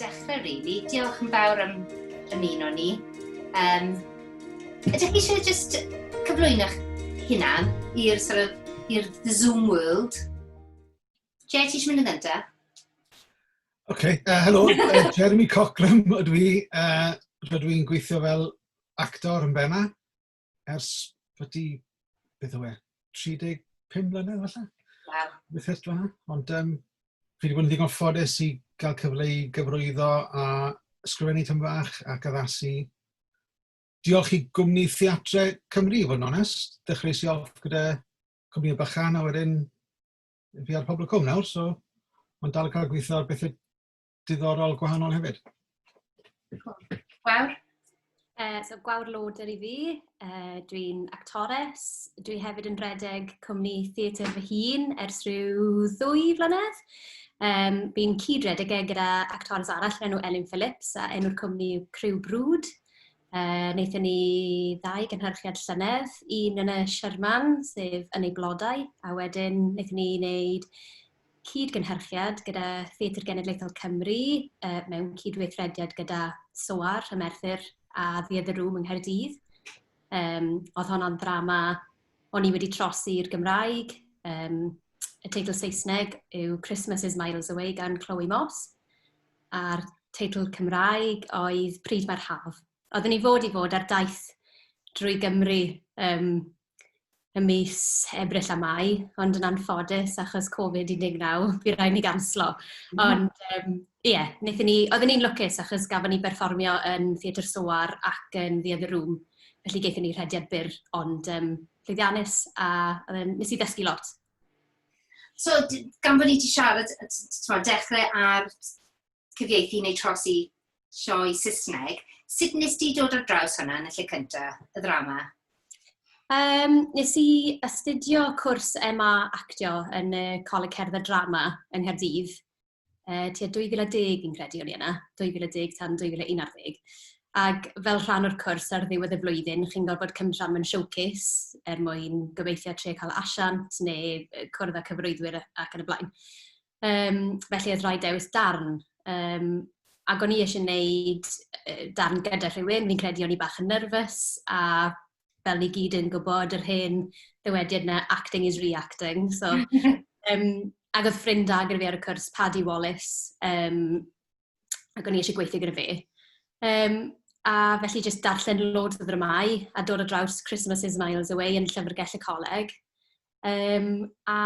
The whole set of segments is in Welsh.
dechrau rili. Really. Diolch yn fawr am ymuno ni. Um, ydych chi eisiau just cyflwyno'ch hunan i'r sort of, i'r Zoom world? Jay, ti eisiau mynd yn gyntaf? OK, uh, helo, uh, Jeremy Cockram ydw i. Uh, rydw i'n gweithio fel actor yn Bena ers byddu, beth yw e, 35 mlynedd falle? Wow. Beth ydw fanna. Ond um, fi wedi bod yn ddigon ffodus i gael cyfle i gyfrwyddo a sgrifennu tyn fach ac addasu. Diolch i gwmni Theatre Cymru, fod yn onest. Dechreuais i off gyda cwmni o bychan a wedyn fi ar Pobl y Cwm nawr, so mae'n dal yn cael gweithio ar bethau diddorol gwahanol hefyd. Gwawr. Uh, so Gwawr Loder i fi, uh, dwi'n actores, dwi hefyd yn redeg cwmni theatr fy hun ers rhyw ddwy flynedd. Um, fi'n cyd-redeg e gyda actores arall enw Elin Phillips a enw'r cwmni yw Crew Brwd. Uh, wnaethon ni ddau gynhyrchiad llynedd, un yn y Sherman, sef yn ei blodau, a wedyn wnaethon ni wneud cyd-gynhyrchiad gyda Theatr Genedlaethol Cymru uh, mewn cydweithrediad gyda SOAR, y Merthyr a Theatr Rŵm yng Nghaerdydd. Um, oedd honno'n ddrama o'n i wedi trosi i'r Gymraeg. Um, y teitl Saesneg yw Christmas is Miles Away gan Chloe Moss. a'r teitl Cymraeg oedd Pryd Mae'r Haf. Oedden ni fod i fod ar daith drwy Gymru yym ym mis Ebrill a Mai, ond yn anffodus achos Covid 19 bu raid i ni ganslo. Ond yym ie, wnaethon ni... oedden ni'n lwcus achos gafon ni berfformio yn Theatr Soar ac yn The Other Room, felly gaethon ni rhediad byr ond yym llwyddiannus a yym wnes i ddysgu lot. So, gan bod ni wedi siarad, ti'n dechrau ar cyfieithu neu trosi sioe Saesneg, sut nes di dod ar draws hwnna yn y lle cyntaf, y ddrama? Um, nes i astudio cwrs MA actio yn y Coleg Cerdd a Drama yng Nghaerdydd. yy tua 2010 fi'n credu o'n i yna, 2010 tan 2011. Ac fel rhan o'r cwrs ar ddiwedd y flwyddyn, chi'n gorfod cymryd rhan mewn showcase er mwyn gobeithio trio cael e asiant neu yy cwrdd â cyfarwyddwyr ac yn y blaen. Yym, felly oedd rhaid dewis darn. Yym, ac o'n i eisiau gwneud darn gyda rhywun, fi'n credu o'n i bach yn nerfus a fel ni gyd yn gwybod, yr hen ddywediad 'na, acting is reacting. So, um, ac oedd ffrind da gyda fi ar y cwrs, Paddy Wallace, um, ac o'n i eisiau gweithio gyda fe. Um, a felly jyst darllen loads o ddramau a dod o draws Christmas is Miles Away yn Llyfrgell y Coleg. Yym, a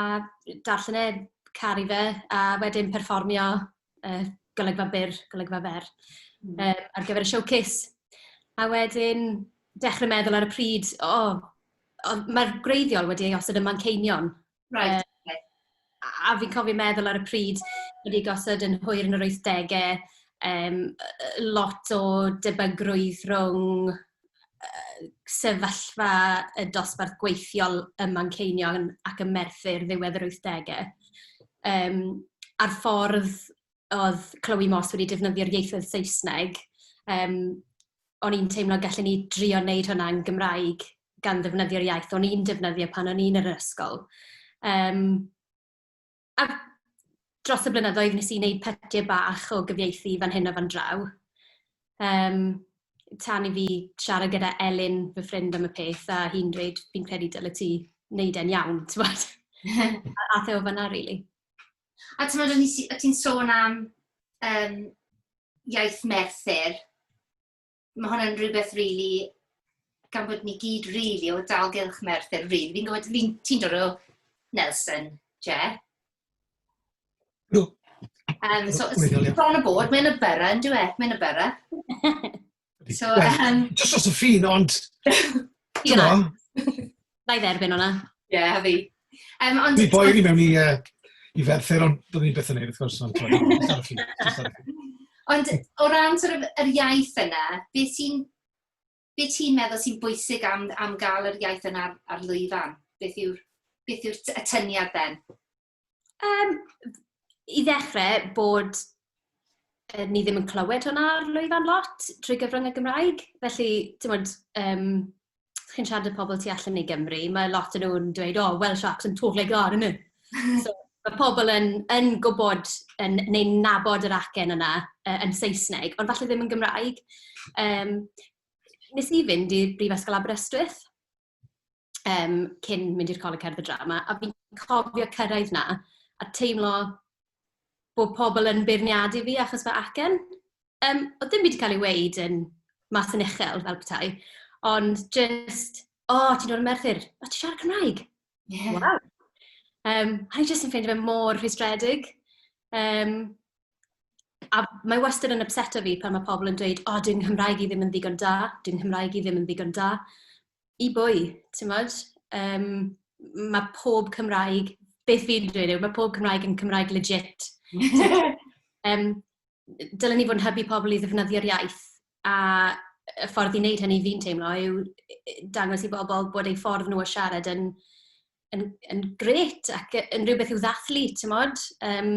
darllen e, caru fe, a wedyn perfformio yy golygfa byr, golygfa fer yy ar gyfer y showcase. A wedyn dechrau meddwl ar y pryd, "o, ond mae'r gwreiddiol wedi ei osod ym Manceinion"... Reit ok. ...a fi'n cofio meddwl ar y pryd, wedi gosod yn hwyr yn yr wythdegau, yym, lot o debygrwydd rhwng yy sefyllfa y dosbarth gweithiol ym Manceinion ac ym Merthyr ddiwedd yr wythdegau, yym, a'r ffordd oedd Chloe Moss wedi defnyddio'r ieithoedd Saesneg, yym, o'n i'n teimlo gallen ni drio wneud hwnna yn Gymraeg, gan ddefnyddio'r iaith o'n i'n defnyddio pan o'n i'n yr ysgol. Yym. A dros y blynyddoedd wnes i wneud pytiau bach o gyfieithu fan hyn a fan draw. Yym, tan i fi siarad gyda Elin, fy ffrind am y peth, a hi'n dweud, fi'n credu dyle ti wneud e'n iawn, t'mod? A ath e o fanna rili. A t'mod o'n i ti'n sôn am yym iaith Merthyr. mae hwnna'n rhywbeth rili, gan bod ni gyd rili o dalgylch Merthyr Rhydd. Fi'n gwybod, fi, ti'n dod o Nelson, Je? Do. Um, so, bron y bod, mae'n y byrra, yn dwi e? Mae'n y byrra. so, um... Just os y ffin, ond... Ti'n Na i dderbyn hwnna. Ie, yeah, fi. Um, ond... Dwi boer i mewn i, uh, i ferthyr, ond byddwn ni'n beth yn ei, wrth gwrs. Ond, ond o ran sort of, yr iaith yna, beth ti'n be ti'n meddwl sy'n bwysig am, am gael yr iaith yna ar, ar lwyfan? Beth yw'r beth yw'r y tyniad then? Um, I ddechrau, bod uh, ni ddim yn clywed hwnna ar lwyfan lot trwy gyfrwng y Gymraeg. Felly, ti'n bod, um, chi'n siarad y pobl tu allan i Gymru, mae lot yn nhw'n dweud, oh, Welsh Sharks yn totally glar yn So, mae pobl yn, yn gwybod yn, neu nabod yr acen yna uh, yn Saesneg, ond falle ddim yn Gymraeg. Um, nes i fynd i'r Brifysgol Aberystwyth, um, cyn mynd i'r Coleg Cerdd y Drama, a fi'n cofio cyrraedd na, a teimlo bod pobl yn beirniadu fi achos fy acen. Um, oedd dim byd wedi cael ei weid yn mas yn uchel fel petai, ond just, o, oh, ti'n dod yn merthyr, o, ti'n siarad Cymraeg? Yeah. Wow. Um, a i jyst yn ffeindio fe mor rhwystredig. Um, a mae wastad yn ypseto fi pan mae pobl yn dweud, o, dyw Nghymraeg i ddim yn ddigon da, dyw Nghymraeg i ddim yn ddigon da. I bwy, timod? Um, mae pob Cymraeg, beth fi'n dweud yw, mae pob Cymraeg yn Cymraeg legit. um, dylen ni fod yn hybu pobl i ddefnyddio'r iaith, a y ffordd i wneud hynny fi'n teimlo yw dangos i bobl bod eu ffordd nhw o siarad yn, yn, yn gret ac yn rhywbeth i'w ddathlu, ti'n modd? Um,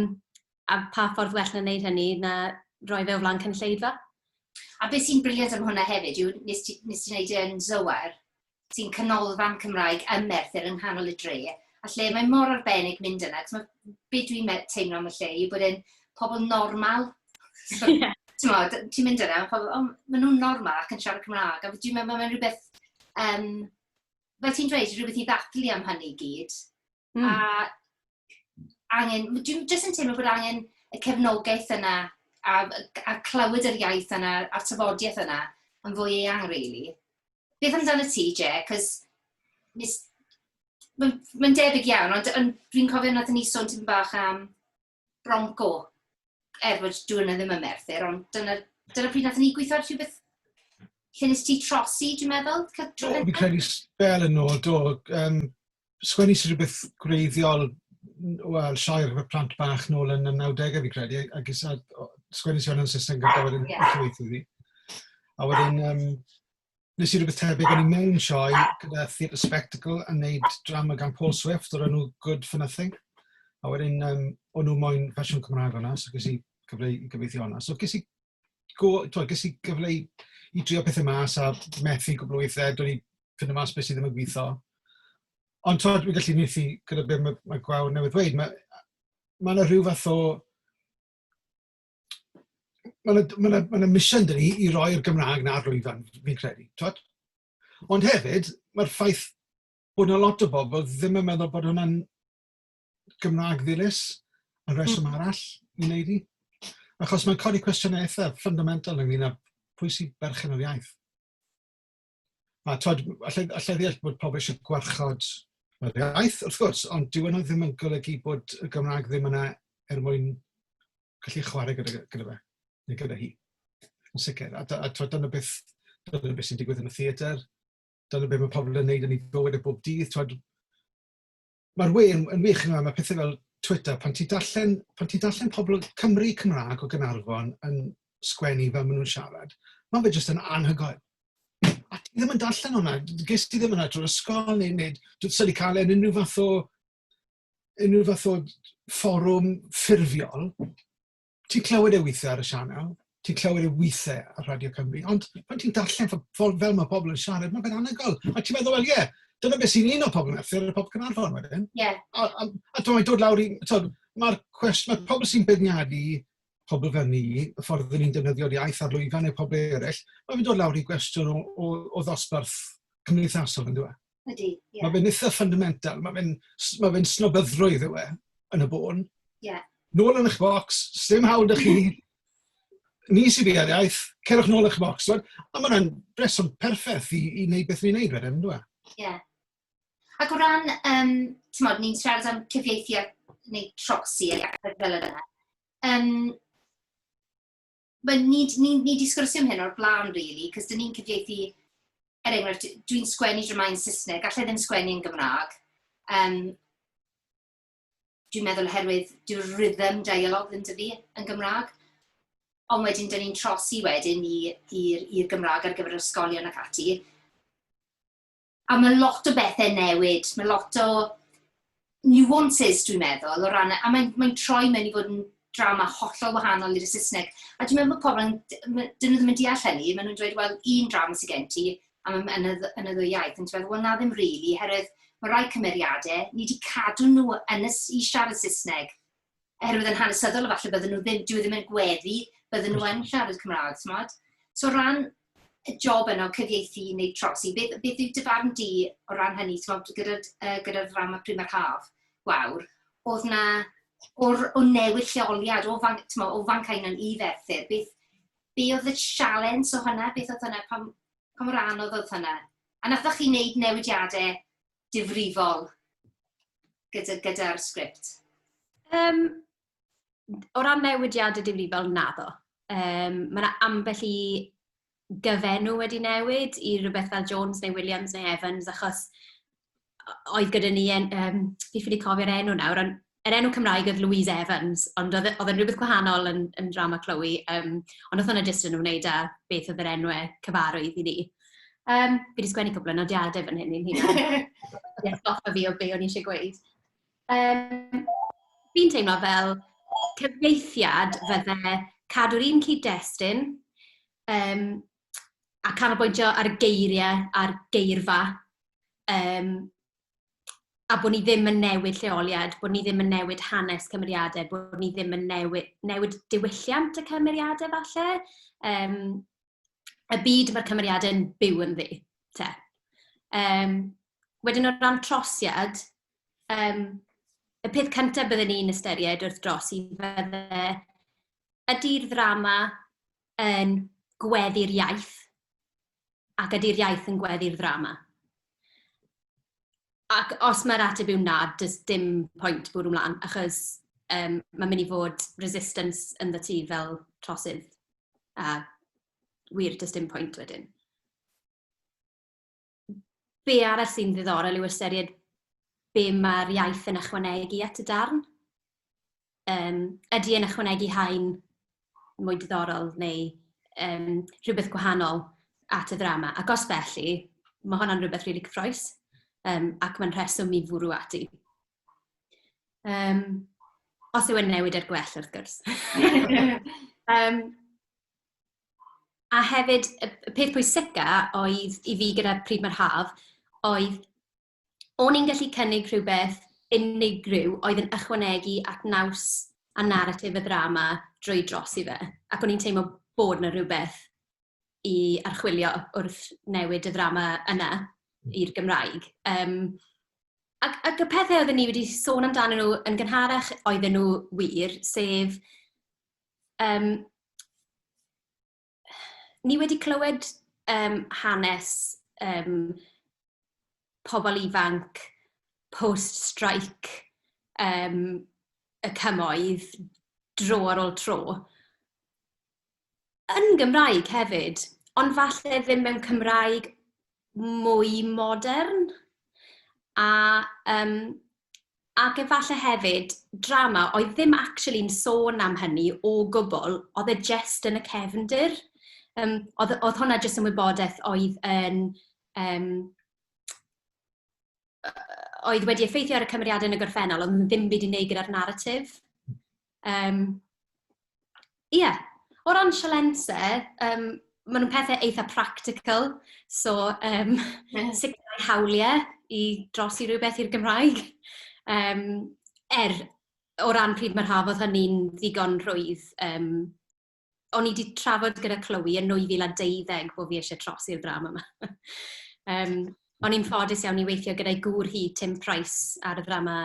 A pa ffordd well na wneud hynny na roi fe o flaen cynulleidfa? A beth sy'n briliant am hwnna hefyd yw, nes ti nes ti neud e yn Zoar, sy'n canolfan Cymraeg ym Merthyr yng nghanol y dre, a lle mae mor arbennig mynd yna, t'mod, be dwi'n me- teimlo am y lle yw bod e'n pobl normal. So, Ie. t'mod, ti'n mynd yna, ma' pobl, o, ma' nhw'n normal ac yn siarad Cymraeg, a dwi'n meddwl ma' fe'n rhywbeth, yym, fel ti'n dweud, rhywbeth i ddathlu am hynny i gyd. Mm. A angen, dwi'n jyst yn teimlo bod angen y cefnogaeth yna a, a clywed yr iaith yna a'r tyfodiaeth yna yn fwy eang, really. Beth amdano ti, Je? Cos mae'n ma debyg iawn, ond, ond dwi'n cofio nad ni sôn ti'n bach am Bronco, er bod dwi'n ddim yn Merthyr, ond dyna, dyna pryd nath ni gweithio rhywbeth lle nes ti trosi, dwi'n meddwl? Do, fi'n credu spel yn ôl, do. Um, sgwennu sy'n rhywbeth gwreiddiol, wel, sioi ar gyfer plant bach nôl yn y 90au fi'n credu, a gysa sgwennu sy'n yn Saesneg gyda wedyn yeah. i fi. A wedyn, um, Wnes i rywbeth tebyg, o'n i mewn sioe gyda Theatre Spectacle yn wneud drama gan Paul Swift o'r enw Good for Nothing. A wedyn, um, o'n nhw moyn fersiwn Cymraeg o'na, so ges i gyfle i gyfeithio o'na. So ges i, go, to, ges i gyfle i, i drio pethau mas a methu gwbl weithiau, dwi'n i fynd y mas beth sydd ddim yn gweithio. Ond to, dwi'n gallu methu gyda beth mae, mae gwawr newydd dweud. Mae, mae yna rhyw fath o ma' 'na ma' 'na ma' 'na mission 'da ni i roi'r Gymraeg 'na ar lwyfan fi'n credu t'wod? Ond hefyd ma'r ffaith bod 'na lot o bobl ddim yn meddwl bod hwnna'n Gymraeg ddilys yn rheswm arall i neud 'i. Achos mae'n codi cwestiyne eitha fundamental ynglŷn â pwy sy berchen ar iaith. A twyd, alla i alla i ddeall bod pobl eisiau gwarchod yr iaith, wrth gwrs, ond dyw hwnna ddim yn golygu bod y Gymraeg ddim yna er mwyn gallu chwarae gyda gyda fe, neu gyda hi, yn sicr. A a twyd, dyna beth dyna beth sy'n digwydd yn y theatr, dyna beth mae pobl yn wneud yn ei bywyd e bob dydd, twyd, Mae'r we yn yn wych yn yma, mae pethau fel Twitter, pan ti'n darllen, pan ti'n darllen pobl Cymry Cymraeg o Gaernarfon yn sgwennu fel maen nhw'n siarad, mae fe jyst yn anhygoel. A ti ddim yn darllen hwnna, ges ti ddim yna drwy'r ysgol neu, neu dwi'n syni cael e yn unrhyw fath o unrhyw fath o fforwm ffurfiol, ti'n clywed e weithiau ar y sianel, ti'n clywed e weithiau ar Radio Cymru, ond pan ti'n darllen fel, fel mae pobl yn siarad, mae'n fe'n anhygoel. A ti'n meddwl, wel ie, yeah, dyna beth sy'n un o pobl Merthyr, y pobl Cynarfon wedyn. Yeah. A, a, a dwi'n dod lawr i, mae'r cwestiwn, mae pobl sy'n beirniadu pobl fel ni, y ffordd ydyn ni'n defnyddio'r iaith ar lwyfan neu pobl eraill, mae'n mynd o'r lawr i gwestiwn o, o, o ddosbarth cymdeithasol yn dweud. Ydy, ie. Mae fe'n eitha fundamental, mae fe'n ma fe snobyddrwydd yw e, yn y bôn. Ie. Yeah. Nôl yn eich bocs, sdim hawl da chi. Ni sydd i'r iaith, cerwch nôl eich bocs. A mae hwnna'n breswm perffaith i, i wneud beth ni'n wneud wedyn, yn dweud? Ie. Yeah. Ac o ran, um, ti'n modd, ni'n siarad am cyfieithu a neu trosi a fel yna. Um, Wel, ni, ni, ni di sgwrsio am hyn o'r blaen, really, cos dyn ni'n cyfieithu, er enghraifft, dwi'n sgwennu dramau yn Saesneg, gallai ddim sgwennu yn Gymraeg. Um, dwi'n meddwl oherwydd dyw'r rhythm dialog ddim dy fi yn Gymraeg. Ond wedyn, dyn ni'n trosi wedyn i'r Gymraeg ar gyfer ysgolion ac ati. A mae lot o bethau'n newid, mae lot o nuances dwi'n meddwl, o ran... a mae'n mae'n troi mewn i fod yn drama hollol wahanol i'r Saesneg. A dwi'n meddwl bod pobl yn... ma'... 'dyn nhw ddim yn deall hynny, maen nhw'n dweud, "wel, un drama sy gen ti, a ma' yn y dd- yn y ddwy iaith". Ond ti'n meddwl, "wel, na ddim rili, oherwydd ma' rai cymeriadau, ni 'di cadw nhw yn y s- i siarad Saesneg". oherwydd yn hanesyddol efallai bydden nhw ddim, dyw e ddim yn gweddu, bydden nhw yn siarad Cymraeg, t'mod? So o ran y job yna o cyfieithu neu trosi, beth beth yw dy farn di o ran hynny, t'mod, gyda'r yy gyda'r ddrama Pryd Mae'r Haf, Gwawr, oedd 'na o'r o newid lleoliad o fan t'mo' o Fancaenan i Ferthyr, beth be oedd y sialens o hynna? Beth oedd hynna? Pam pa mor anodd oedd hynna? A nathoch chi wneud newidiadau difrifol gyda, gyda'r sgript? Um, o ran newidiadau difrifol, naddo. Um, mae yna ambell i gyfenw wedi newid i rhywbeth fel Jones neu Williams neu Evans, achos oedd gyda ni, en, um, fi ffili cofio'r enw nawr, ond yr enw Cymraeg oedd Louise Evans, ond oedd e oedd e'n rywbeth gwahanol yn yn Drama Chloe, yym, ond wnaeth hwnna jyst yn ymwneud â beth oedd yr enw cyfarwydd i ni. Yym, fi 'di sgwennu cwpl o nodiadau fan hyn i'n hunan i atgoffa fi o be o'n i isie gweud. Yym, fi'n teimlo fel cyfieithiad fydde cadw'r un cyd-destun, yym, a canolbwyntio ar y geiriau a'r geirfa, yym, a bod ni ddim yn newid lleoliad, bod ni ddim yn newid hanes cymeriadau, bod ni ddim yn newid newid diwylliant y cymeriadau falle. Um, y byd mae'r cymeriadau yn byw yn ddi, te. Um, wedyn o ran trosiad, um, y peth cyntaf byddwn ni'n ystyried wrth dros i fydde ydy'r ddrama yn gweddi'r iaith ac ydy'r iaith yn gweddu'r ddrama? Ac os mae'r ateb yw na, does dim pwynt bwrw mlaen, achos um, mae'n mynd i fod resistance yn dda ti fel trosydd. A wir, does dim pwynt wedyn. Be arall sy'n ddiddorol yw ystyried be mae'r iaith yn ychwanegu at y darn. Yym, ydy e'n ychwanegu haen mwy diddorol neu yym rhywbeth gwahanol at y ddrama? Ac os felly, ma' honna'n rywbeth rili cyffrous, yym, ac mae'n rheswm i fwrw ati. Yym, os yw e'n newid er gwell, wrth gwrs. Yym, a hefyd, y peth pwysica oedd i fi gyda Pryd Mae'r Haf oedd... o'n i'n gallu cynnig rhywbeth unigryw oedd yn ychwanegu at naws a naratif y ddrama drwy dros i fe, ac o'n i'n teimlo bod 'na rywbeth i archwilio wrth newid y ddrama yna i'r Gymraeg. Yym, ac ac y pethe oedden ni wedi sôn amdanyn nhw yn gynharach oedden nhw wir, sef yym... ni wedi clywed um, hanes um, pobl ifanc post-strike um, y cymoedd dro ar ôl tro. Yn Gymraeg hefyd, ond falle ddim mewn Cymraeg mwy modern. A um, Ac efallai hefyd, drama oedd ddim actually yn sôn am hynny o gwbl, oedd e jyst yn y cefndir. Yym, oedd y- oedd hwnna jyst yn wybodaeth oedd yn yym yy oedd wedi effeithio ar y cymeriadau yn y gorffennol, ond ddim byd i wneud gyda'r naratif. Yym, ie. O ran sialensau, yym, maen nhw'n pethe eitha practical, so yym sicrhau hawliau i drosi rywbeth i'r Gymraeg. Yym, er, o ran pryd mor hawdd oedd hynny'n ddigon rhwydd, yym... o'n i 'di trafod gyda Chloe yn 2012 bod fi eisiau trosi'r ddrama yma. um, o'n i'n ffodus iawn i weithio gyda'i gŵr hi, Tim Price, ar y ddrama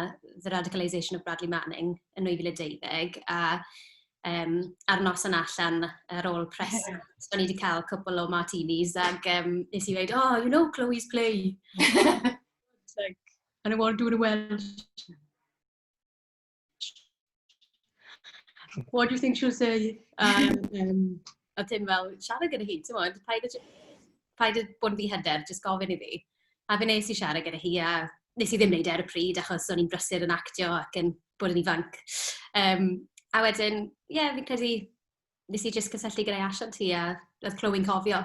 The Radicalisation of Bradley Manning yn 2012, a um, ar nos yn allan ar ôl pres, o'n i wedi cael cwpl o martinis ac um, nes i dweud, oh, you know Chloe's play. and I want to do the Welsh. What do you think she'll say? Um, a dim fel, siarad gyda hi, ti'n modd, paid y, paid y bod yn ddihyder, jyst gofyn iddi. A fe nes i siarad gyda hi, a nes i ddim wneud e ar y pryd, achos o'n i'n brysur yn actio ac yn bod yn ifanc. Um, a wedyn, ie, yeah, fi'n credu, nes i jyst cysylltu gyda'i asiant hi, a oedd clywing cofio.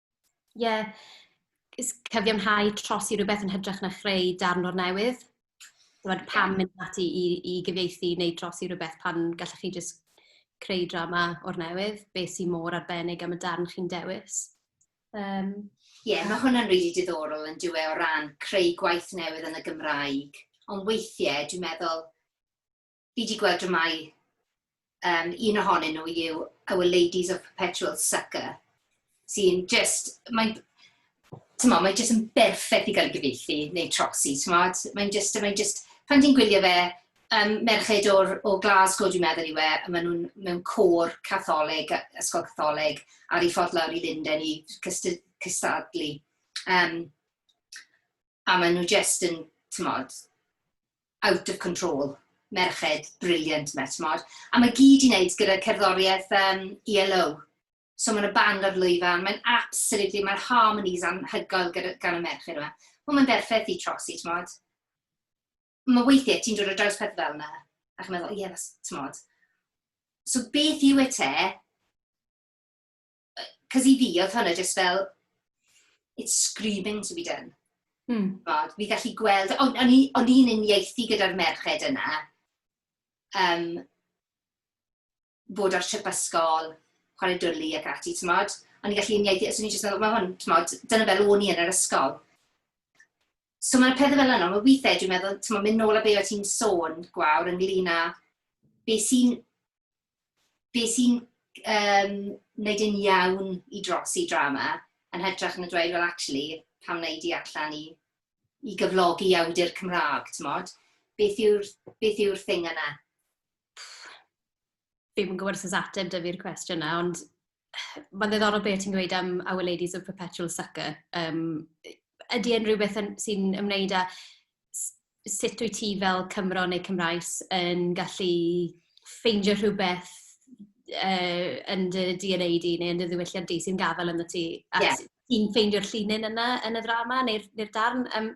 Ie, is- cyfiawnhau trosi rhywbeth yn hytrach na chreu darn o'r newydd. Tibod, pam mynd ati i i gyfieithu neu trosi rhywbeth pan gallech chi jyst creu drama o'r newydd? Be sy mor arbennig am y darn chi'n dewis? Yym. Ie, mae hwnna'n rili diddorol yn dyw e o ran creu gwaith newydd yn y Gymraeg. Ond weithiau dwi'n meddwl, fi 'di gweld dramâu, um, un ohonyn nhw yw Our Ladies of Perpetual Sucker, sy'n just, mae'n, tymo, mae'n just yn berffaith i gael ei gyfeithi, neu trosi, tymo, mae'n just, mae'n just, pan ti'n gwylio fe, um, merched o'r, o Glasgow dwi'n meddwl i we, a maen nhw'n mewn côr catholig, ysgol catholig, ar ei ffordd lawr i Linden i cystadlu. Um, a maen nhw jyst yn, timod, out of control. Merched brilliant 'ma, timod. A mae gyd i wneud gyda cerddoriaeth um, ELO. So mae'n y band ar lwyfan, mae'n absolutely, mae'r harmonies anhygoel gyda, gan y merched yma. Wel, mae'n berffaith i trosi, timod. Mae weithiau ti'n dod o draws peth fel yna, a chi'n meddwl, ie, yeah, timod. So beth yw e te, cos i fi, oedd hwnna just fel, it's screaming to be done. Hmm. Bod, fi gallu gweld, o'n on i'n uniaethu gyda'r merched yna, um, bod ar trip ysgol, chwarae dwlu ac ati, ti'n modd? O'n i'n gallu uniaethu, os o'n i'n just meddwl, mae hwn, ti'n modd, dyna fel o'n i yn yr ysgol. So mae'r pethau fel yna, mae weithiau dwi'n meddwl, ti'n mynd nôl a be o ti'n sôn, gwawr, ynglyn â be sy'n be sy'n um, wneud yn iawn i dros i drama, yn hytrach yn y dweud, well, actually, pam wneud i allan i, i gyflogi awdur Cymraeg, ti'n modd? Beth yw'r yw thing yna? ddim yn gwybod os oes ateb da fi'r cwestiwn yna, ond mae'n ddiddorol beth ti'n gweud am Our Ladies of Perpetual Sucker. Um, ydy e'n rhywbeth sy'n ymwneud â sut wyt ti fel Cymro neu Cymraes yn gallu ffeindio rhywbeth uh, yn dy DNA di neu yn dy ddiwylliant di sy'n gafael yn y ti? A yeah. ti'n ffeindio'r llinyn yna yn y ddrama neu'r neu darn? Um,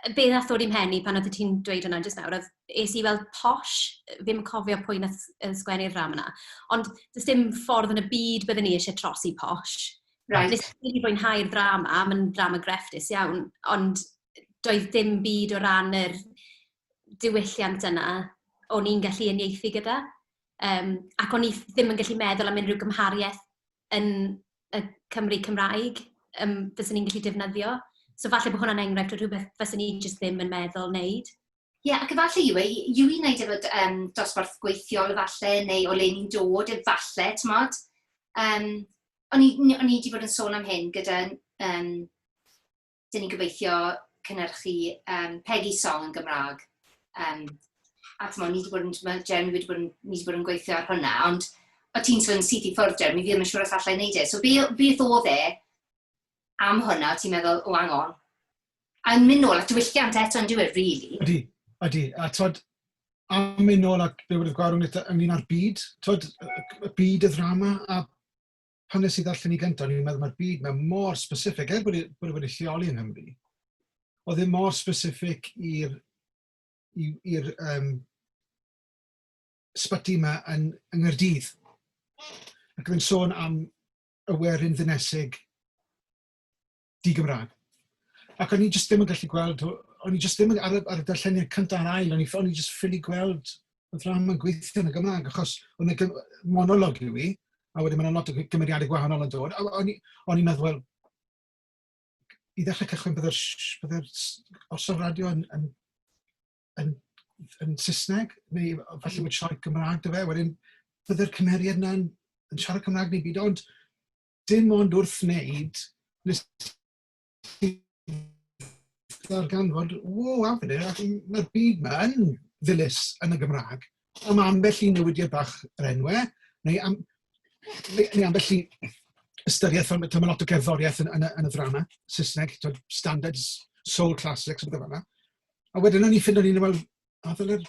yy be wnaeth ddod i'm mhen i pan oeddet ti'n dweud hwnna jyst nawr oedd, es i i weld Posh, ddim yn cofio pwy wnaeth s- yy sgwennu'r ddrama 'na, ond does dim ffordd yn y byd byddwn i isie trosi Posh. Reit. Wnes i rili fwynhau'r ddrama, mae'n ddrama grefftus iawn, ond doedd dim byd o ran yr diwylliant yna o'n i'n gallu uniaethu gyda. Yym, ac o'n i ddim yn gallu meddwl am unrhyw gymhariaeth yn... y Cymry Cymraeg, yym, fyswn i'n gallu defnyddio. So falle bod hwnna'n enghraifft o rywbeth faswn i jyst ddim yn meddwl wneud. Ie, ac efallai yw e yw i wneud efo d- yym dosbarth gweithiol efallai, neu o le ni'n dod efallai, timod? Yym, o'n i n- o'n i 'di bod yn sôn am hyn gyda yym 'dyn ni'n gobeithio cynhyrchu um, Peggy Song yn Gymraeg. Um, a ti'n ni wedi bod yn, mae Jeremy wedi bod yn, ni wedi bod yn gweithio ar hwnna, ond o ti'n sôn syth i ffwrdd Jeremy, fi ddim yn siŵr os allai wneud e. So beth oedd e am hwnna, ti'n meddwl, o angon? A yn mynd nôl at diwylliant eto yn diwedd, really. Ydy, ydy. A tod, am mynd nôl at be wedi gwario ynglyn â'r byd, tod, y byd y ddrama, a pan nes i ddarllen i gyntaf, o'n i'n meddwl mae'r byd mae mor specific, er bod e, bod e wedi lleoli yng Nghymru, oedd e mor specific i'r i'r um, sbyty yma yn, yng Nghaerdydd. Ac oedd e'n sôn am y werin ddinesig di-Gymraeg. Ac o'n i jyst ddim yn gallu gweld, o'n i jyst ddim yn, ar y, ar y darlleniad cyntaf a'r ail, o'n i, o'n i jyst ffili gweld y ddrama yn gweithio yn y Gymraeg, achos o'n y monolog i fi, a wedyn mae'n lot o gymeriadau gwahanol yn dod, o'n i'n meddwl, wel, i ddechrau cychwyn byddai'r bydde orsaf radio yn, yn, yn, yn Saesneg, neu falle bod siarad Gymraeg dy fe, wedyn byddai'r cymeriad yna'n yn siarad Cymraeg neu byd, ond dim ond wrth wneud nes i ddarganfod, ww, hang on a minute, mae'r byd 'ma yn ddilys yn y Gymraeg am ambell i newidiad bach yr enw, neu am neu ambell i ystyriaeth, fel mae lot o gerddoriaeth yn yn y ddrama Saesneg, timod standards, soul classics a pethe fel 'na. A wedyn o'n i'n ffindo o'n i'n meddwl, o ddylai'r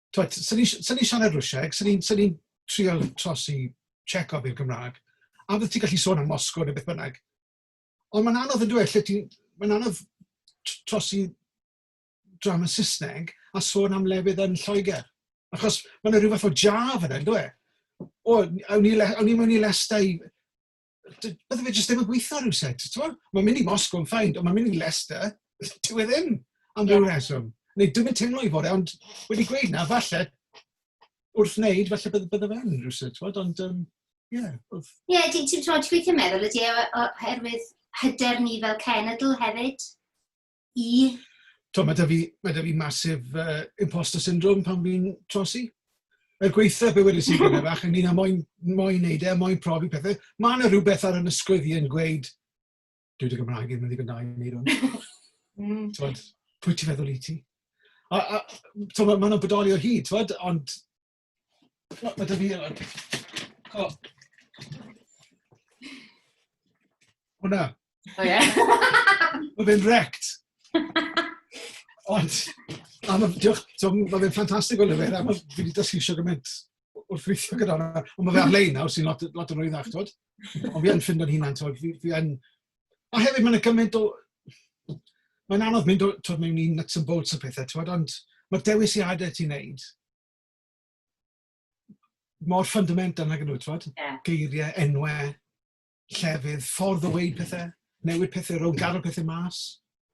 twed, sy'n ni, sy ni siarad Rwsieg, sy'n ni'n sy ni trio trosi Checob i'r Gymraeg, a bydde ti'n gallu sôn am Moscow neu beth bynnag. Ond mae'n anodd yn dweud lle ti'n... Mae'n anodd trosi drama Saesneg a sôn am lefydd yn Lloegr. Achos mae'n rhywbeth o jaf yna, yn dweud. O, awn ni, awn ni mewn i lestau bydde fe jyst ddim yn gweithio rhywsut, t'mod? Mae'n mynd i Moscow yn fine, ond mae'n mynd i Leicester, dyw e ddim, am ryw reswm. Neu dwi'm yn teimlo i fod e, ond wedi gweud 'na, falle wrth wneud, falle bydde bydde fe yn rhywsut, t'mod, ond yym ie, oedd... Ie, ti'n ti'n t'mod, ti'n gweithio meddwl ydi e o- o- oherwydd hyder ni fel cenedl hefyd? i... Tibod, mae 'da fi... mae 'da fi massive yy imposter syndrome pan fi'n trosi. Er gwaetha' be wedes i gyne bach ynglyn â moyn moyn wneud e, moyn profi pethe, ma' 'na rywbeth ar 'y ysgwydd i yn gweud dyw dy Gymraeg ddim yn ddigon da i wneud hwn. Hmm. T'mod, pwy ti'n feddwl wyt ti? A a t'mod ma' 'na bodoli o hyd t'mod ond O, mae dy fi yma. O. Hwna. O ie. Mae fe'n wrecked. Ond, a ma, diolch, so, mae fe'n ffantastig o lyfr, a mae fi wedi dysgu sio gymaint wrth weithio gyda hwnna. Ond mae fe ar-lein nawr, sy'n lot, lot yn rwyddach, twyd. Ond fi yn ffindo'n hunan, twyd, fi, fi yn... A hefyd, mae'n gymaint o... Mae'n anodd mynd o, twyd, mewn un nuts and bolts o pethau, twyd, ond mae'r dewisiadau ti'n neud, mor fundamental nag ydw, twod? Yeah. Geiriau, enwau, llefydd, ffordd o weud pethau, newid pethau rhwng, garo pethau mas,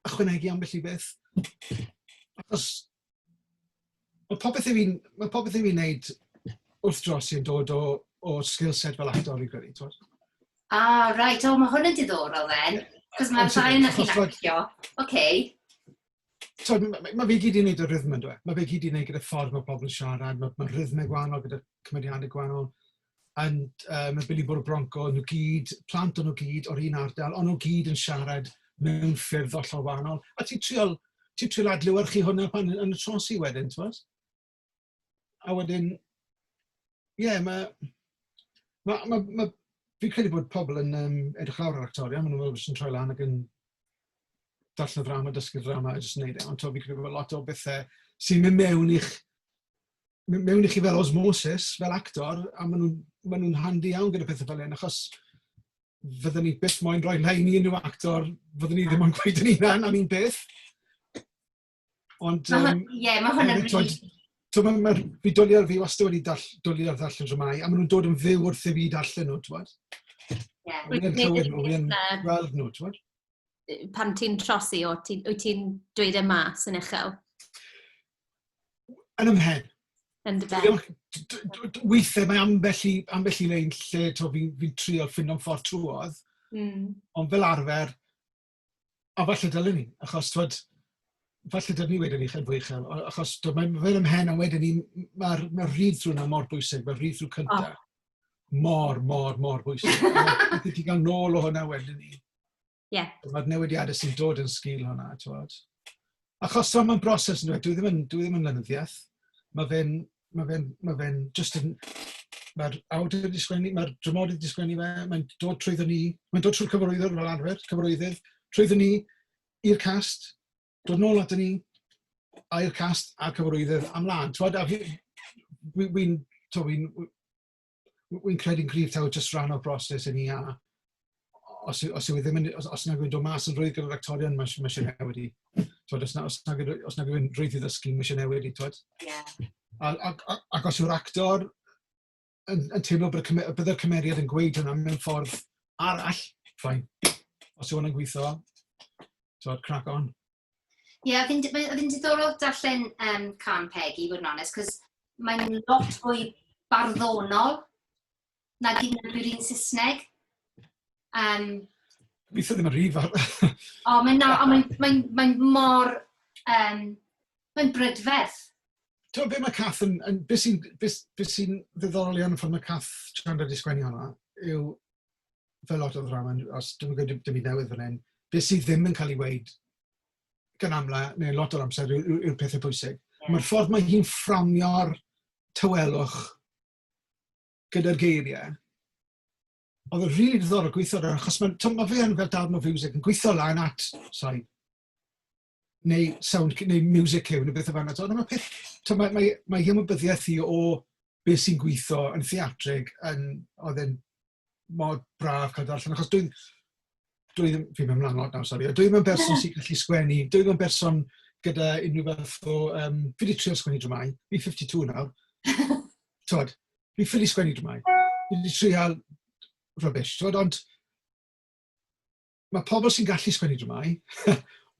ychwanegu ambell i beth. Achos mae popeth i fi'n mae popeth i fi'n neud wrth dros i'n dod o, o skill set fel actor i gwneud, twod? Ah, right. O, mae hwn yn diddorol then. Cos mae'r ddau yna chi'n actio. Oce. so, mae fe gyd i wneud y rhythm yn dweud. Mae fe gyd i wneud gyda ffordd mae pobl yn siarad, mae, mae rhythmau gwahanol gyda cymeriadau gwahanol. And, uh, mae Billy Bwrw Bronco, nhw gyd, plant o'n nhw gyd o'r un ardal, ond nhw gyd yn siarad mewn ffyrdd ollol wahanol. A ti'n triol, ti triol adlywyrchu hwnna pan yn y trosi wedyn, ti'n bod? a wedyn, ie, yeah, mae... Ma, ma, ma, fi'n credu bod pobl yn um, edrych lawr ar actorion, maen nhw'n jyst yn troi lan ac yn darllen y ddrama, dysgu'r ddrama a jyst yn neud e. Ond to, fi'n credu bod lot o bethau sy'n mynd mewn i'ch mewn i chi fel osmosis, fel actor, a maen nhw'n ma nhw handi iawn gyda pethau fel hyn, achos fydden ni byth moyn rhoi lein i unrhyw actor, fydden ni ddim ond gweud yn unan am un peth. Ond... Ie, um, yeah, mae hwn yn rili... Twyd, mae'r bydoliad fi wastad wedi dall, dwlu ar ddarllen dramau, a maen nhw'n dod yn fyw wrth i fi darllen nhw, twyd. Ie. Yeah. Wy'n clywed nhw, wy'n gweld nhw, twyd. Pan ti'n trosi, o, ti, wyt ti'n dweud y e mas yn uchel? Yn ymhen. Yn dy ben. Weithiau mae ambell i, ambell i lein lle fi'n fi trio ffindio'n ffordd trwodd, mm. ond fel arfer, A falle dylen ni, achos twod, falle dylen ni wedyn 'ny fod yn fwy uchel o- achos t'o' mae'n mynd yn 'mhen a wedyn 'ny m- ma'r ma'r read-through 'na mor bwysig, ma'r read-through cynta... O. ...mor mor mor bwysig. Allet ti ga'l nôl o hwnna wedyn 'ny. Ie. Ma'r newidiade sy'n dod yn sgil hwnna t'wod. Achos t'mo' ma'n broses on'd yw e? Dyw e ddim yn dyw e ddim yn lenyddiaeth. Ma' fe'n Ma' fe'n ma' fe'n jyst yn... Ma'r awdur 'di sgwennu ma'r dramodydd 'di sgwennu fe, mae'n dod trwyddo ni, mae'n dod trwy'r cyfarwyddwr fel arfer, cyfarwyddyd, trwyddo ni i'r cast, dod nôl ato ni, a i'r cast a'r cyfarwyddwr a mlan t'mod a fi wi wi'n t'mo' wi'n w- Wi'n credu'n gryf taw jyst rhan o'r broses yn ia. Os, os yw e ddim yn, os, os nag yw'n dod mas yn rwydd gyda'r actorion, mae eisiau newid i. Twod, os, na, os, nag, os nag yw'n rwydd i ddysgu, mae eisiau newid i, twod? Yeah. Ac, ac os yw'r actor yn, yn teimlo bod y, bydd y cymeriad yn gweud hwnna mewn ffordd arall, ffain. Os yw hwnna'n gweithio, twod, crack on. Ie, yeah, oedd hi'n diddorol darllen um, can Peggy, fod yn onest, cos mae'n lot fwy barddonol na gyd yn yr un Saesneg. Um, Gobeithio ddim yn rhif ar... o, mae'n no, mae, mae, mae mor... Um, mae'n brydferth. Ti'n beth mae Cath yn... yn beth sy'n sy ddiddorol iawn yn ffordd mae Cath Chandra di sgwennu hwnna yw fel lot o ddrama, os dwi'm yn gwneud dim byd newydd fan hyn, beth sydd ddim yn cael ei weid gan amla, neu lot o'r amser, yw'r yw, yw pethau pwysig. Yeah. Mae'r ffordd mae hi'n fframio'r tywelwch gyda'r geiriau, oedd yn rili really o gweithio ar achos mae, ma fe yn fel darn o fiwsig yn gweithio lan at, sorry, neu sound cue neu music cue neu bethe fel 'na t'mo' dyma peth t'mo' mae mae mae hi ymwybyddiaeth hi o be' sy'n gwitho yn theatrig yn o'dd e'n mor braf ca'l darllen achos dwi'n dwi ddim fi'n myn' mlan lot nawr sori a dwi ddim yn berson sy'n gallu sgwennu dwi ddim yn berson gyda unrhyw fath o yym fi 'di trial sgwennu dramâu fi fifty two nawr t'wod fi ffili sgwennu dramâu fi 'di trial rubbish t'wod ond mae pobl sy'n gallu sgwennu dramâu,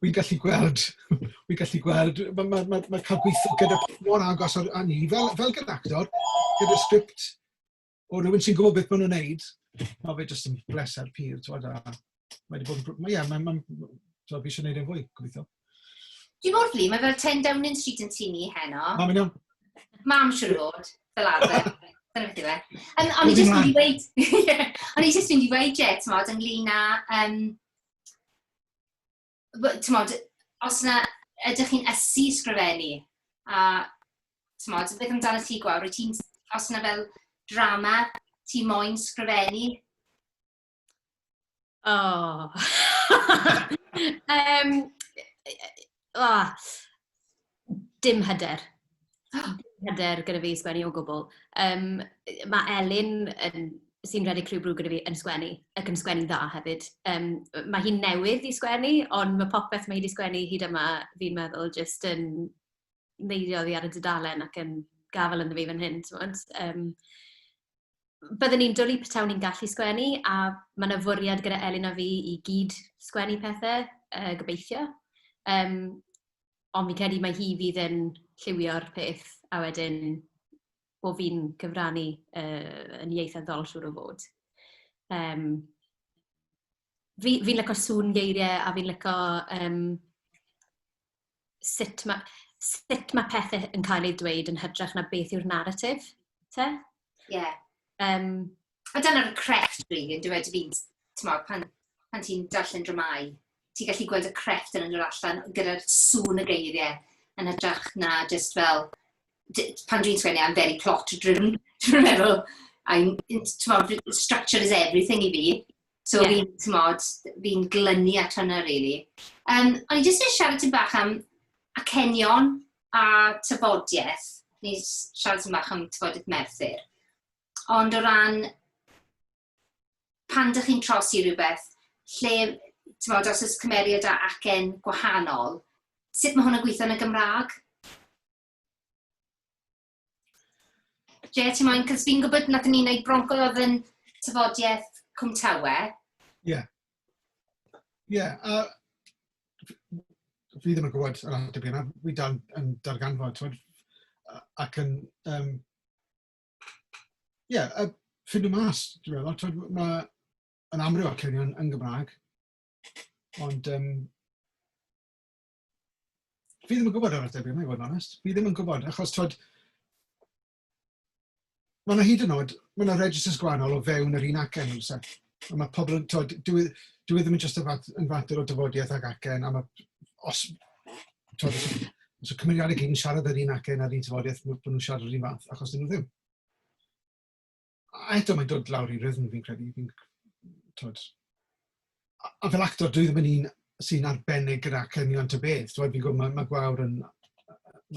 wi'n gallu gweld, wi'n gallu gweld, mae ma, ma, ma cael gweithio gyda mor agos ar, a ni, fel, fel gyda actor, gyda sgript o rhywun sy'n gwybod beth maen nhw'n neud, mae fe jyst yn bleser pur, ti'n gwybod, a mae wedi bod yn, mae, ie, mae, mae, so, fi eisiau gwneud e'n fwy, gobeithio. Dwi'n mor flin, mae fel 10 Downing Street yn tîm ni heno. Mam yn iawn. Mam siwr o fod, fel arfer. Dyna beth yw e. Um, o'n i jyst mynd i weid... o'n i jyst mynd i weid, ie, ti'n modd, ynglyn â... Um, ti'n modd, os yna ydych chi'n ysu sgrifennu, a ti'n modd, beth amdano ti gwawr, wyt ti'n... Os yna fel drama, ti moyn sgrifennu? O! Yym, o! Dim hyder. Dim hyder gyda fi i sgwennu o gwbl. Yym, mae Elin yn... sy'n redeg Clwb Brugg gyda fi, yn sgwennu, ac yn sgwennu'n dda hefyd. Yym, mae hi'n newydd i sgwennu, ond mae popeth mae hi 'di sgwennu hyd yma, fi'n meddwl, jyst yn neidio oddi ar y dudalen ac yn gafael ynddo fi fan hyn, timod. Yym... byddwn ni'n dwlu petawn ni'n gallu sgwennu, a mae 'na fwriad gyda Elin a fi i gyd sgwennu pethe, yy, gobeithio. Yym, ond fi'n credu mai hi fydd yn lliwio'r peth, a wedyn bo' fi'n cyfrannu, yy, yn ieithyddol siŵr o fod. Yym, fi fi'n lico sŵn geiriau a fi'n lico, yym, sut mae sut mae pethau yn cael eu dweud yn hytrach na beth yw'r narratif, te? Ie. Yeah. Um, a dyna'r crefft, rili, yn dweud fi'n, ti'n pan, pan ti'n darllen dramau, ti'n gallu gweld y crefft yn yr allan gyda'r sŵn y geiriau yn hytrach na just fel, pan dwi'n sgwennu, I'm very plot driven, dwi'n meddwl, I'm, ti'n structure is everything i fi, So yeah. fi'n, tymod, fi'n glynu at hwnna, really. Um, o'n i jyst yn siarad ti'n bach am acenion a tyfodiaeth. Ni'n siarad ti'n bach am tyfodiaeth Merthyr. Ond o ran, pan dych chi'n trosi rhywbeth, lle, tymod, os oes cymeriad a acen gwahanol, sut mae hwnna'n gweithio yn y Gymraeg? Jay, ti moyn, cos fi'n gwybod nad ni'n ei bronco oedd yn tyfodiaeth Cwmtawe. Ie. Yeah. Ie, yeah, a fi ddim yn gwybod yr ateb yna, fi dal yn darganfod, twyd, ac yn, um, ie, yeah, uh, ffindio mas, dwi'n meddwl, twyd, mae yn amryw o'r clynion yn Gymraeg, ond um, Fi ddim yn gwybod ar y tebyg yma i fod yn onest. Fi ddim yn gwybod achos twyd... Mae yna hyd yn oed, mae yna registers gwahanol o fewn yr un acen yn oes e? A mae pobl yn, twyd, dwi, e, dwi e ddim yn just yn fat, yn fater o dyfodiaeth ag acen, a mae, os, twyd, os, os y cymeriadau gyd yn siarad yr un acen a'r un tyfodiaeth, bod nhw'n siarad yr un fath, achos dyn nhw ddim. A eto mae'n dod lawr i rythm fi'n credu, fi'n tod... A, a fel actor dwi ddim yn un sy'n arbennig gyda acenion ta beth, tibod fi'n gwybod ma' ma' Gwawr yn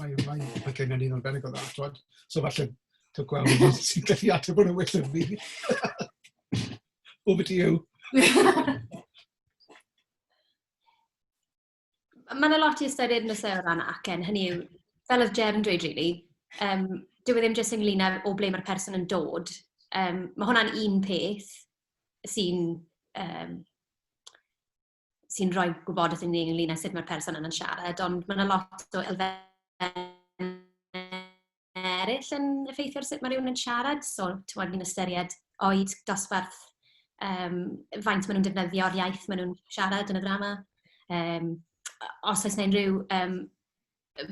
mae mae acenion hi'n arbennig o dda tibod, so falle taw Gwawr yw un sy'n gallu ateb hwnna well na fi. Over to you. Mae yna lot i ystyried yn y seo ran acen, hynny yw, fel oedd Ger yn dweud, really, um, dyw e ddim jyst ynglyn â o ble mae'r person yn dod. Um, mae hwnna'n un peth sy'n um, sy'n rhoi gwybodaeth i ni ynglyn â sut mae'r person yna'n siarad, ond mae yna lot o elfennau eraill yn effeithio ar sut mae rhywun yn siarad. So, timod, ni'n ystyried oed, dosbarth, yym, faint maen nhw'n defnyddio'r iaith maen nhw'n siarad yn y ddrama. Yym, os oes 'na unrhyw yym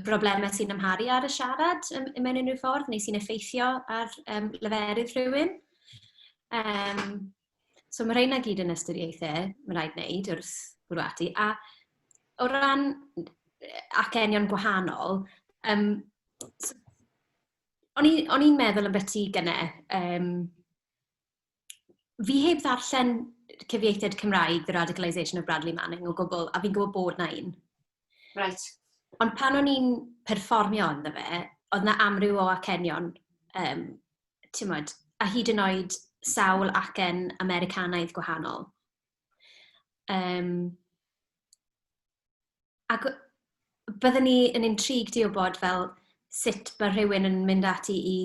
broblemau sy'n amharu ar y siarad yym mewn unrhyw ffordd neu sy'n effeithio ar yym leferydd rhywun. Yym. So ma' rheina gyd yn ystyriaethe ma' raid wneud wrth bwrw ati. A o ran acenion gwahanol, yym s- o'n i o'n i'n meddwl ambyti gynne, yym fi heb ddarllen cyfieithiad Cymraeg The Radicalisation of Bradley Manning o gwbl, a fi'n gwybod bod 'na un. Reit. Ond pan o'n i'n perfformio ynddo fe, oedd 'na amryw o acenion yym timod, a hyd yn oed sawl acen Americanaidd gwahanol. Um, ac byddwn ni yn intrigued i wybod fel sut mae rhywun yn mynd ati i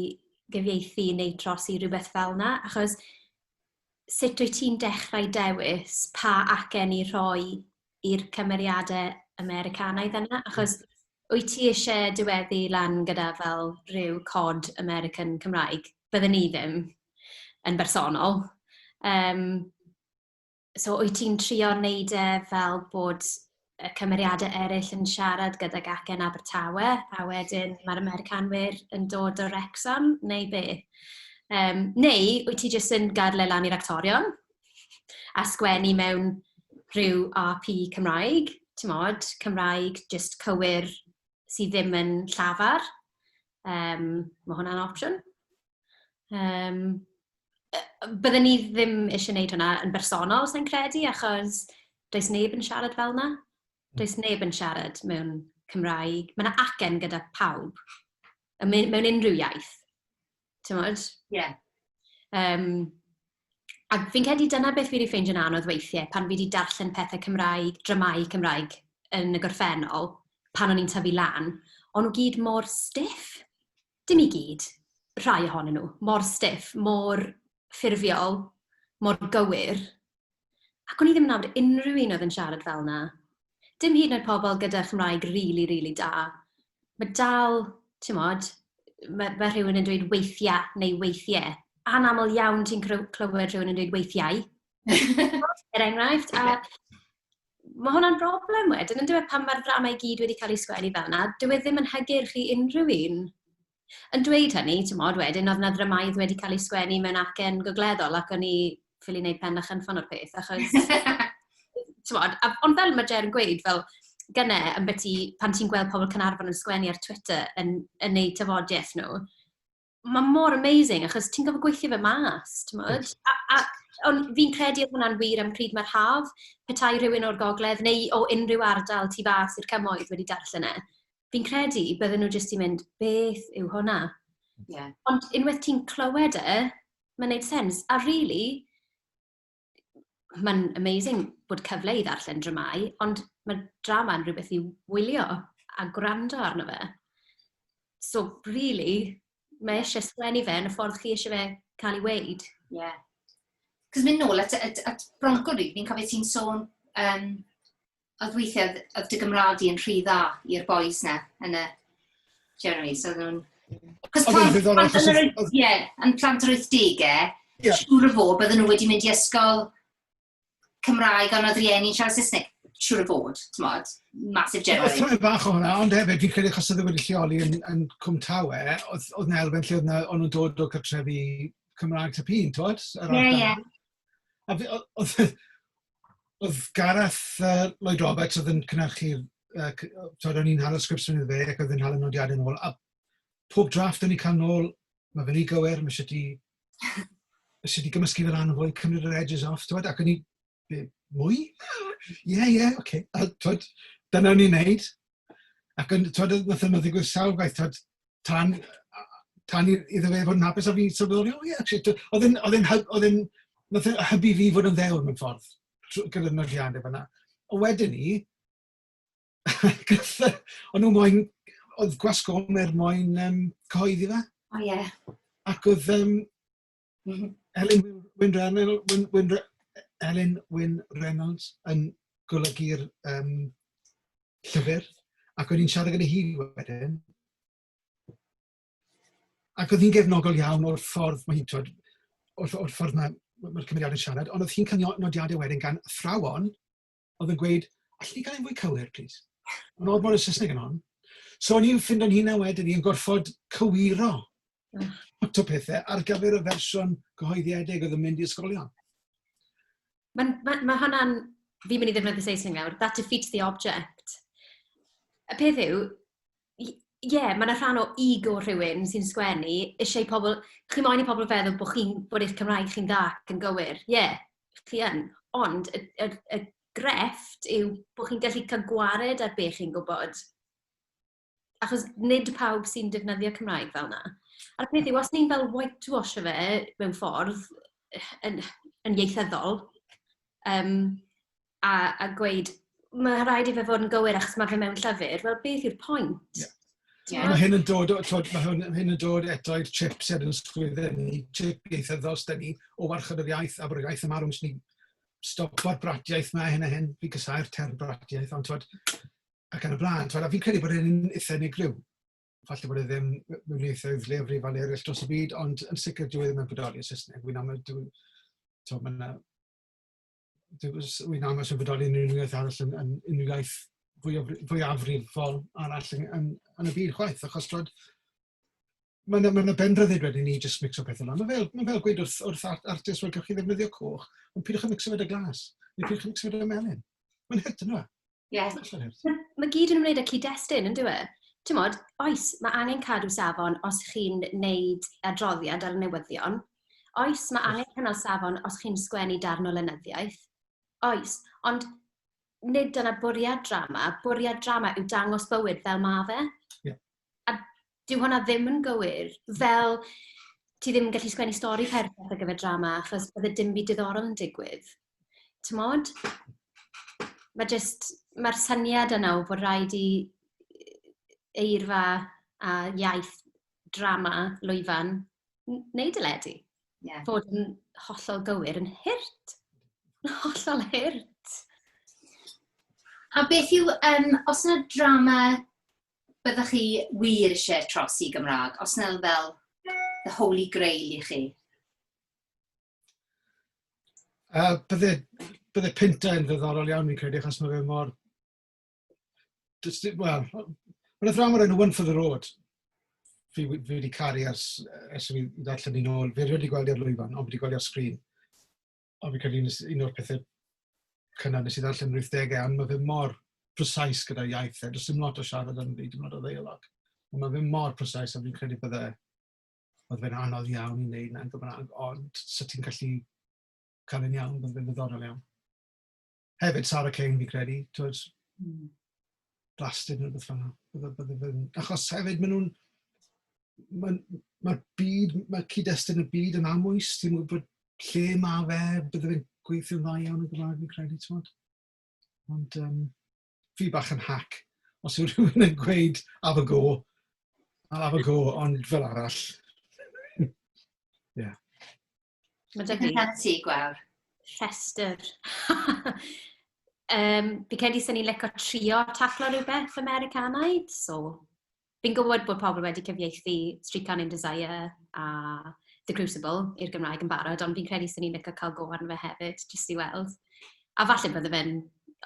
gyfieithu neu trosi rhywbeth fel yna, achos sut wyt ti'n dechrau dewis pa acen i rhoi i'r cymeriadau Americanaidd yna? Achos wyt ti eisiau diweddu lan gyda fel rhyw cod American Cymraeg? Bydden ni ddim, yn bersonol. Yym, so wyt ti'n trio wneud e fel bod y cymeriadau eraill yn siarad gydag acen Abertawe, a wedyn mae'r Americanwyr yn dod o Wrecsam, neu be? Um, neu wyt ti jyst yn gadle lan i'r actorion a sgwennu mewn rhyw RP Cymraeg, ti'n modd, Cymraeg jyst cywir sydd ddim yn llafar. Um, mae hwnna'n opsiwn. Yym, bydden ni ddim eisiau gwneud hwnna yn bersonol, sa'n credu, achos does neb yn siarad fel yna. Hmm. Does neb yn siarad mewn Cymraeg. Mae yna acen gyda pawb, mewn unrhyw iaith. Ti'n modd? Ie. Yeah. Um, a fi'n credu dyna beth fi wedi ffeindio'n anodd weithiau, pan fi wedi darllen pethau Cymraeg, dramau Cymraeg yn y gorffennol, pan o'n i'n tyfu lan, ond nhw gyd mor stiff. dim i gyd, rhai ohonyn nhw, mor stiff, mor ffurfiol, mor gywir, ac o'n i ddim yn nabod unrhyw un oedd yn siarad fel 'na. Dim hyd yn oed pobl gyda Chymraeg rili, rili da. Ma' dal, timod, ma' ma' rhywun yn dweud "weithia'" neu "weithie". Anaml iawn ti'n clyw- clywed rhywun yn dweud "weithiau" er enghraifft, a... mae hwnna'n broblem wedyn, yn dweud pan mae'r dramau i gyd wedi cael eu sgwennu fel yna, dyw e ddim yn hygyrch i unrhyw un. Yn dweud hynny, ti'n modd wedyn, oedd yna ddramaidd wedi cael ei sgwennu mewn acen gogleddol ac o'n i ffili wneud pen a chynffon o'r peth, achos... ti'n modd, ond fel mae Ger yn gweud, fel gyne, yn byti, pan ti'n gweld pobl Cynarfon yn sgwennu ar Twitter yn yn eu tafodiaith nhw, mae mor amazing, achos ti'n gofyn gweithio fe mas, ti'n modd? A, a, ond fi'n credu oedd hwnna'n wir am pryd mae'r haf, petai rhywun o'r gogledd neu o unrhyw ardal tu fas i'r cymoedd wedi darllen e. Fi'n credu bydden nhw jyst i mynd, beth yw hwnna? Yeah. Ond unwaith ti'n clywed e, mae'n neud sens. A really, mae'n amazing bod cyfle i ddarllen dramau, ond mae drama yn rhywbeth i wylio a gwrando arno fe. So, really, mae eisiau sgwennu fe yn y ffordd chi eisiau fe cael ei weid. Ie. Yeah. Cos mynd nôl at, at, at Bronco Reed, fi'n cofio ti'n sôn um, oedd weithiau, oedd dy Gymraeg i'n rhy dda i'r boys na, yn y Jeremy, so oedd nhw'n... Cos plant, plant, plant, ie, yn plant yr 80au, yeah. siŵr o fod, bydden nhw wedi mynd i ysgol Cymraeg ond oedd rieni'n siarad Saesneg, siŵr o fod, ti'n modd, masif general. Oedd rhoi bach o hwnna, ond hefyd, fi'n credu achos oedd wedi lleoli yn, yn Cwm Tawe, oedd, oedd na elfen lle oedd na, o'n nhw'n dod o cartrefi Cymraeg Tapun, ti'n modd? Ie, ie. A oedd, Oedd Gareth yy Lloyd Roberts oedd yn cynhyrchu'r yy c- yy timod o'n i'n hala sgripts ohono fe ac oedd e'n hala nodiadau nôl a pob drafft o'n ni'n cael nôl "ma' fe'n rhy gywir, ma' isie ti isie ti gymysgu fe lan yn fwy, cymryd yr edges off" t'mod ac o'n i "be'? Mwy? Ie ie ocê" a t'mod dyna o'n i'n wneud. Ac yn, twyd, wnaeth hynny ddigwydd sawl gwaith, twyd, tan, tan iddo fe fod yn hapus, a fi sylweddoli, o ie, actually, oedd e'n, oedd e'n, oedd e'n, nath e hybu fi fod yn ddewr mewn ffordd, gyda'r nodiadau fyna. A wedyn ni, o'n nhw moyn, oedd gwasgwm er moyn um, cyhoeddi fe. O ie. Yeah. Ac oedd, um, Elin Wyn Reynolds, Wyn, Wyn, Elin Wyn Reynolds yn golygu'r um, llyfr, ac o'n i'n siarad gyda hi wedyn. Ac oedd hi'n gefnogol iawn o'r ffordd, mae hi'n twyd, o'r, or ffordd mae'r mae cymeriad yn siarad, ond oedd hi'n cyfnodiadau wedyn gan athrawon oedd yn gweud, allen ni gael e'n fwy cywir, plîs? Mae'n odd bod y Saesneg yn hon. So o'n i'n ffindo'n hunan wedyn i'n gorfod cywiro mm. lot o pethau ar gyfer y fersiwn gyhoeddiedig oedd yn mynd i ysgolion. Mae ma, ma hwnna'n, fi'n mynd i ddefnyddio Saesneg nawr, that defeats the object. Y peth yw, i- ie, ma' 'na rhan o ego rhywun sy'n sgwennu, isie i pobl... chi moyn i pobl feddwl bod chi'n... bod eich Cymraeg chi'n dda ac yn gywir. Ie, chi yn, ond y y y grefft yw bod chi'n gallu cael gwared ar be chi'n gwybod, achos nid pawb sy'n defnyddio Cymraeg fel 'na. A'r peth yw, os ni'n fel whitewasho fe mewn ffordd yn yn ieithyddol, yym... a, a gweud, mae rhaid i fe fod yn gywir achos mae fe mewn llyfr, wel beth yw'r pwynt? Yeah. Yeah. Mae hyn yn dod, tod, mae hyn, hyn yn dod eto i'r chip sydd yn sgwydden ni, chip ieithyddol sydd ni, o warchod yr iaith a bod yr iaith yn marw, ni stopo'r bratiaeth mae hyn a hyn, fi gysau'r term bratiaeth, ond tod, ac yn y blaen, tod, a fi'n credu bod hyn eitha unigryw. Falle bod e ddim mewn eithaf i'r lefrif a eraill dros y byd, ond yn sicr dwi e ddim yn bodoli yn Saesneg. Wy'n aml, dwi'n, tod, mae'n Wy'n angos yn fodoli yn unrhyw iaith arall yn yn unrhyw iaith fwy o fwy fwyafrifol arall yn yn yn y byd chwaith achos timod ma' 'na ma' 'na ben ryddid wedyn i ni jyst micso pethe lan. Ma' fel ma' fel gweud wrth wrth ar- artist wel gewch chi ddefnyddio coch ond pidwch a micso fe 'da glas neu pidwch a micso fe 'da melyn. Ma'n hurt yndyw e? Ie. Mae gyd yn ymwneud â cyd-destun, yn dyw e? Ti'n modd, oes, mae angen cadw safon os chi'n neud adroddiad ar y newyddion. Oes, mae angen cynnal safon os chi'n sgwennu darn o lenyddiaeth. Oes, ond nid dyna bwriad drama. Bwriad drama yw dangos bywyd fel mae fe. a dyw hwnna ddim yn gywir. Fel, ti ddim yn gallu sgwennu stori perffaith ar gyfer drama, achos bydde dim byd diddorol yn digwydd. Timod? Mae jyst... Mae'r syniad yna o fod raid i eirfa a iaith drama lwyfan n- wneud y ledi... ie. ...fod yn hollol gywir, yn hurt. Yn hollol hurt. A beth yw, yym, os 'na drama byddech chi wir eisiau tros i Gymraeg, os na fel the holy grail i chi? Uh, bydde, bydde Pinta yn ddiddorol iawn fi'n credu, achos mae fe mor... Wel, mae'n athrawon o'r enw One for the Road. Fi, fi wedi caru ers, ers fi ddarllen ni'n ôl. Fi wedi gweld i'r lwyfan, ond fi wedi gweld i'r sgrin. Ond fi'n credu un nes- un o'r pethe cynnar nes i ddarllen yn yr wythdegau, ond ma' fe mor precise gyda iaith e. Does dim lot o siarad yn hyd yn oed o ddeialog. Ond ma' fe mor precise a fi'n credu bydde oedd fe'n anodd iawn i wneud 'na yn Gymraeg, ond 'sa ti'n gallu cael e'n iawn, bydde fe'n ddiddorol iawn. hefyd Sara Kane fi'n credu, twyd, hmm. blasted neu beth fanna. Achos hefyd maen nhw'n, mae'r ma byd, mae cyd-destun y byd yn amwys, ti'n gwybod lle mae fe, bydde fe'n gweithio'n dda iawn yn Gymraeg fi'n credu, ti'n gwybod. Ond um, fi bach yn hack, os yw rhywun yn gweud af y go, af y go, ond fel arall. yeah. Mae deg yn rhan ti, gwawr. Rhestr. um, fi credu sy'n ni'n leco trio taflo rhywbeth Americanaidd, so fi'n gwybod bod pobl wedi cyfieithu Street Can in Desire a The Crucible i'r Gymraeg yn barod, ond fi'n credu sy'n ni'n leco cael go arno fe hefyd, jyst i weld. A falle bod y fe'n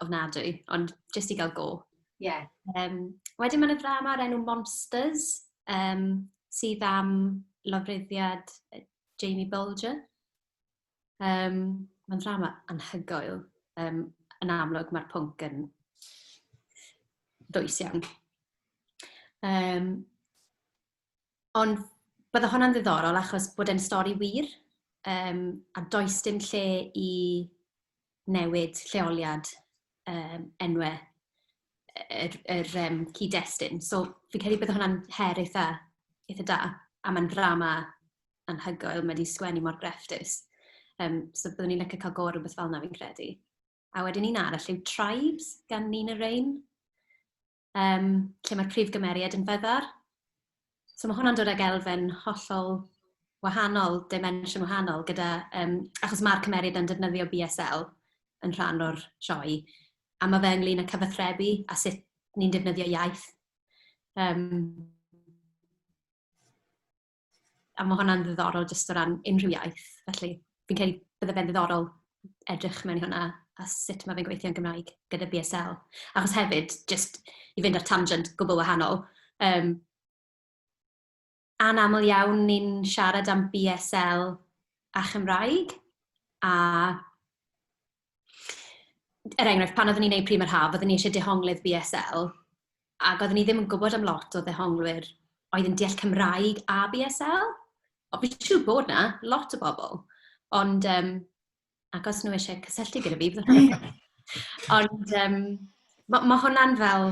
ofnadwy, ond jyst i gael go. Ie. Yeah. Um, wedyn mae'n y ddrama o'r enw Monsters, um, sydd am lofruddiad Jamie Bulger. Um, Mae'n drama anhygoel. Um, yn amlwg mae'r pwnc yn dwys iawn. Um, ond bydde hwnna'n ddiddorol achos bod e'n stori wir um, a does dim lle i newid lleoliad um, enwau yr, yr um, cyd-destun. So, fi'n credu bod hwnna'n her eitha, eitha da, a mae'n drama anhygoel, mae wedi sgwennu mor grefftus. Um, so, byddwn ni'n lycio cael go ar rhywbeth fel yna, fi'n credu. A wedyn un arall yw Tribes gan Nina Rain. um, lle mae'r prif gymeriad yn feddar. So mae hwnna'n dod ag elfen hollol wahanol, dimension wahanol, gyda, um, achos mae'r cymeriad yn defnyddio BSL yn rhan o'r sioe, a mae fe ynglyn â cyfathrebu a sut ni'n defnyddio iaith. Um, A mae hwnna'n ddiddorol jyst o ran unrhyw iaith. Felly, fi'n credu bydde fe'n ddiddorol edrych mewn i hwnna a sut mae fe'n gweithio yn Gymraeg gyda BSL. Achos hefyd, jyst i fynd ar tangent gwbl wahanol, yym, anaml iawn ni'n siarad am BSL a Chymraeg, a er enghraifft, pan oeddwn i'n wneud Prima'r Haf, oeddwn i eisiau dehonglyd BSL, ac oeddwn i ddim yn gwybod am lot o ddehonglwyr oedd yn deall Cymraeg a BSL. Ond fi'n siŵr bod 'na lot o bobl, ond yym, ac os nhw isie cysylltu gyda fi, byddwn i'n... Ond yym, ma' ma' hwnna'n fel...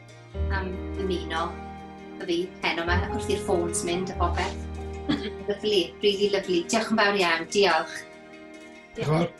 am ymuno y fi heno ma wrth i'r ffôns mynd a popeth. lyflu, really lyflu. Diolch yn fawr iawn, diolch. Diolch.